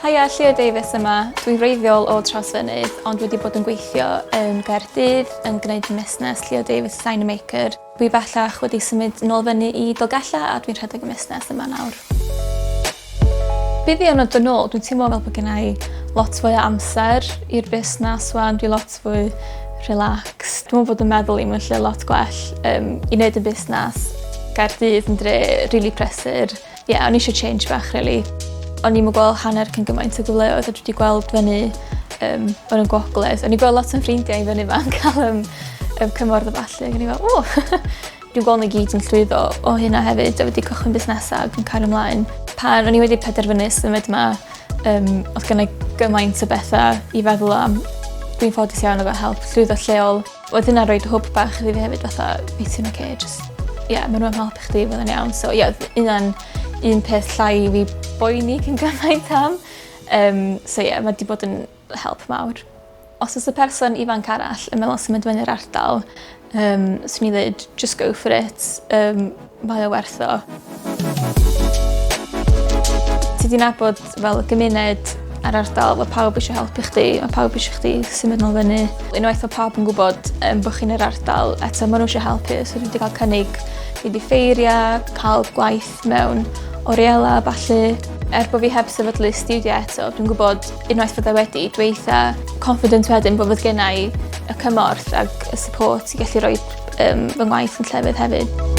Haia, Llio Davies yma. Dwi'n wreiddiol o Trawsfynydd ond wedi bod yn gweithio yn Gaerdydd yn gwneud musnes Llio Davies Design a Maker. Dwi bellach wedi symud nôl fyny i Dolgellau a dwi'n rhedeg y musnes yma nawr. Byddion o dynol, dwi'n teimlo fel bod gen i lot fwy o amser i'r busnes wan, dwi lot fwy relaxed. Dwi'n meddwl bod yn meddwl i mewn lle lot gwell um, i wneud y busnes. Gaerdydd yn dre rili really prysur. Ie o'n i isio change bach rili. O'n i'm yn gweld hanner cyn gymaint o gyfleoedd a dwi 'di gweld fyny yym yn y Gwogledd. O'n i gweld lot o'n ffrindiau i fyny yma yn cael yym yym cymorth a ballu ac o'n i fel o! Dwi'n gweld n'w gyd yn llwyddo o hynna hefyd a wedi cychwyn busnesa ac yn cario mlaen. Pan o'n i wedi penderfynu symud 'ma yym odd gynnai gymaint o betha i feddwl am. Dwi'n ffodus iawn efo help llwyddo lleol. Oedd hynna roid hwb bach iddi fi hefyd fatha wyt ti'n oce jyst ie ma' n'w am helpu chdi fydd e'n iawn so ie odd hynna'n un peth llai i fi boeni cyn gymaint am yym so ie ma' 'di bod yn help mawr. Os o's y person ifanc arall yn meddwl symud i fynny i'r ardal yym swn i ddeud jys go for it yym Mae o werth o. Ti 'di nabod fel y gymuned a'r ardal ma' pawb isio helpu chdi ma' pawb isio chdi symud nôl fyny. Unwaith ma' pawb yn gwbod yym bo' chi'n yr ardal eto ma' n'w isio helpu so dwi 'di ga'l cynnig mynd i ffeiria ca'l gwaith mewn oriela a ballu. Er bo' fi heb sefydlu stiwdio eto dwi'n gwbod unwaith fydda i wedi dwi eitha confident wedyn bo' fy' genai y cymorth ag y support i gallu roid Yym fy ngwaith yn llefydd hefyd.